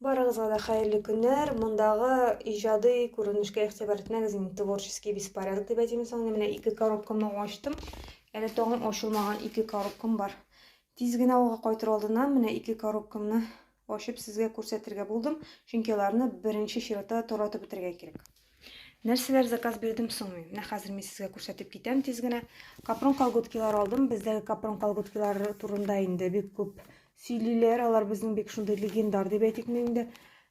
Барыгызга да хәерле көннәр. Мондагы иҗади күренешкә игътибар итмәгез инде. Творческий беспорядок дип әйтим соң. Менә ике коробкамны ачтым. Әле тагын ачылмаган ике коробкам бар. Тиз генә авылга кайтыр алдыннан менә ике коробкамны ачып сезгә күрсәтергә булдым. Чөнки аларны беренче чиратта таратып бетергә кирәк. Нәрсәләр заказ бирдем соң мин? Менә хәзер мин сезгә күрсәтеп китәм тиз генә. Капрон колготкилар алдым. Бездәге капрон колготкилар турында инде бик күп сөйлиләр. Алар безнең бик шундый легендар дип әйтик инде.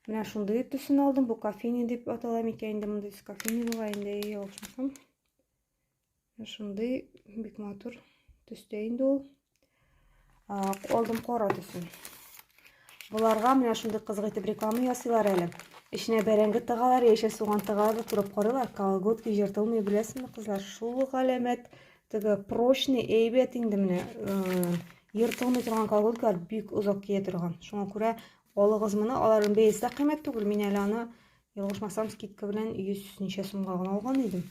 Менә шундый төсен алдым. Бу кофейня дип атала микән инде мондый кофейня була инде. Ошмасам. Шундый бик матур төстә инде ул. Алдым кара төсен. Боларга менә шундый кызык итеп реклама ясыйлар әле. Эченә бәрәңге тыгалар, яшел суган тыгалар да турап карыйлар. Колготки җыртылмый, беләсеңме, кызлар? Шул галәмәт теге прочный әйбәт инде менә. Ертылмый торган колготкалар бик озак кия торган. Шуңа күрә алыгыз моны. Аларның бәясе дә кыйммәт түгел. Мин әле аны Ялгышмасам, скидка белән 100 ничә сумга гына алган идем.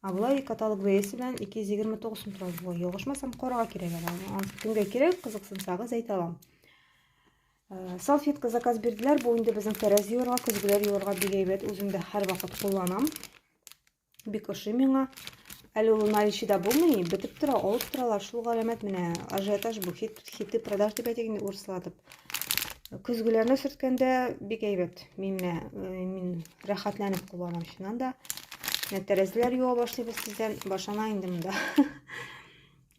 Ә болай каталог бәясе белән 229 сум тора була. Ялгышмасам, карга кирәк әле. Аны кемгә кирәк, кызыксынсагыз әйтә алам. Э, салфетка заказ бирделәр. Бу инде безнең тәрәз юырга, көзгеләр юырга бик әйбәт. Үзем дә һәрвакыт кулланам. Бик ошый миңа. Әле ул наличида булмый, бетеп тора, алып торалар. Шул галәмәт менә ажиотаж бу, хит, хиты продаж дип әйтик инде урыслатып. Көзгеләрне сөрткәндә бик әйбәт. Мин менә э, мин рәхәтләнеп кулланам чыннан да. Менә тәрәзәләр юа башлыйбыз тиздән, башана инде монда.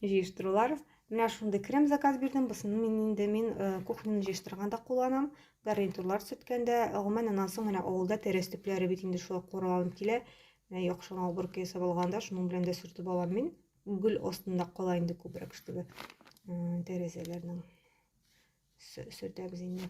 Җыештырулар. Менә шундый крем заказ бирдем. Бусын мин инде мин э, кухняны җыештырганда кулланам. Гарнитурлар сүткәндә, гомумән, аннан соң менә авылда тәрәз төпләре бит инде шулай кура алынып килә. Менә яхшы гына уборка ясап алганда, шуның белән дә сүртеп алам мин. Гөл астында кала инде күбрәк штугы тәрәзәләрнең сөртәбез инде.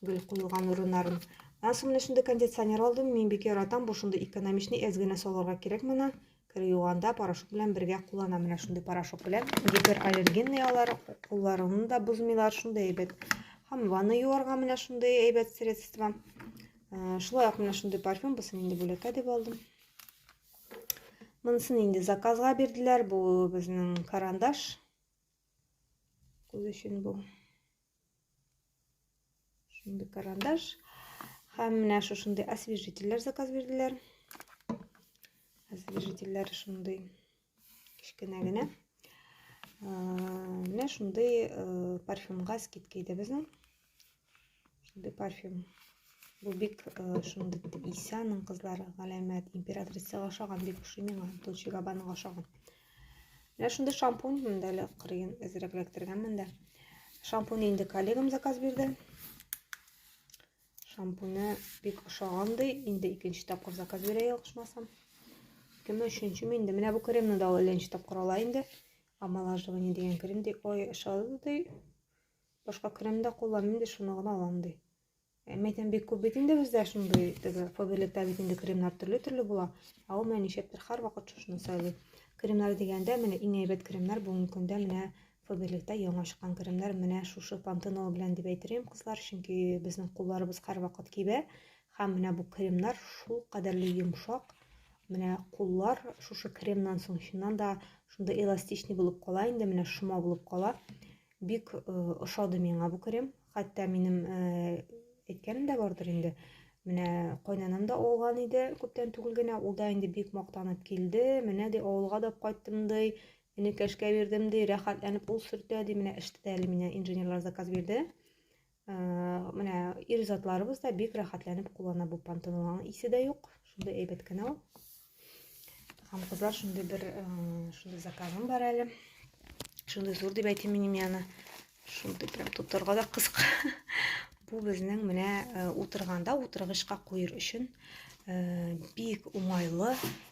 Гөл куелган урыннарын. Аннан соң менә шундый кондиционер алдым. Мин бик яратам. Бу шундый экономичный, әз генә салырга кирәк моны. Кер юганда порошок белән бергә куллана. Менә шундый порошок белән гипераллергенный алар, кулларыңны да бозмыйлар, шундый әйбәт. Һәм ванны юарга менә шундый әйбәт средство. Э, шулай ук менә шундый парфюм, бусын инде бүләккә дип алдым. Монысын инде заказга бирделәр. Бу безнең карандаш. Күз өчен бу. Шундый карандаш. Һәм менә шушындый освежительләр заказ бирделәр. Освежительләр шундый кечкенә генә. Менә шундый э, парфюмга скидка иде безнең. Шундый парфюм. Бу бик э, шундый исәнең кызлары галәмәт императрицага ошаган бик ошый миңа. Дольче Габбанага ошаган. Менә шундый шампунь монда әле кырыен әзрәк эләктергәнмен дә. Шампунь инде коллегам заказ бирде. Шампуне бик ошаган ди, инде икенче тапкыр заказ бирә ялгышмасам. Кеме өченче мин инде. Менә бу кремны да ул икенче тапкыр ала инде. Омолаживание дигән крем ди. Ой, ошады ди. Башка крем дә кулланмыйм ди, шуны гына алам ди. Ә мәйтәм бик күп бит инде бездә шундый теге фаберлектә бит инде кремнар төрле-төрле була. Ә ул менә нишләптер һәрвакыт шушыны сайлый. Кремнар дигәндә менә иң әйбәт кремнар бүгенге көндә менә фаберлектә яңа чыккан кремнар менә шушы пантенол белән дип әйтерем, кызлар, чөнки безнең кулларыбыз һәрвакыт кибә һәм менә бу кремнар шул кадәрле йомшак, менә куллар шушы кремнан соң чыннан да шундый эластичный булып кала инде, менә шома булып кала. Бик э, ошады миңа бу крем. Хәтта минем э, әйткәнем дә бардыр инде. Менә кайнанам да алган иде күптән түгел генә. Ул да инде бик мактанып килде. Менә ди авылга да кайттым ди. Энекәшкә бирдем ди, рәхәтләнеп ул сөртә ди. Менә эште дә әле менә инженерлар заказ бирде. Менә ир затларыбыз да бик рәхәтләнеп куллана бу пантенолларның исе дә юк. Шундый әйбәт кенә ул. Һәм кызлар шундый бер шундый заказым бар әле. Шундый зур дип әйтим минем яны. Шундый прям тотарга да кызык. Бу безнең менә утырганда утыргычка куер өчен бик уңайлы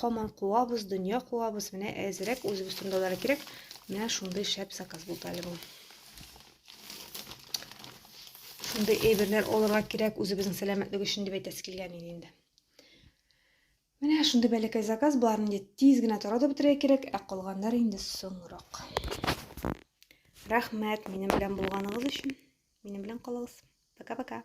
Хаман куабыз, дөнья куабыз. Менә әзерәк үзебез турындалары кирәк. Менә шундый шәп заказ булды әле бу. Шундый әйберләр алырга кирәк үзебезнең сәламәтлек өчен дип әйтәсе килгән иде инде. Менә шундый бәләкәй заказ бар инде. Тиз генә тора да бетерә кирәк, ә калганнар инде соңрак. Рәхмәт минем белән булганыгыз өчен. Минем белән калыгыз. Пока-пока.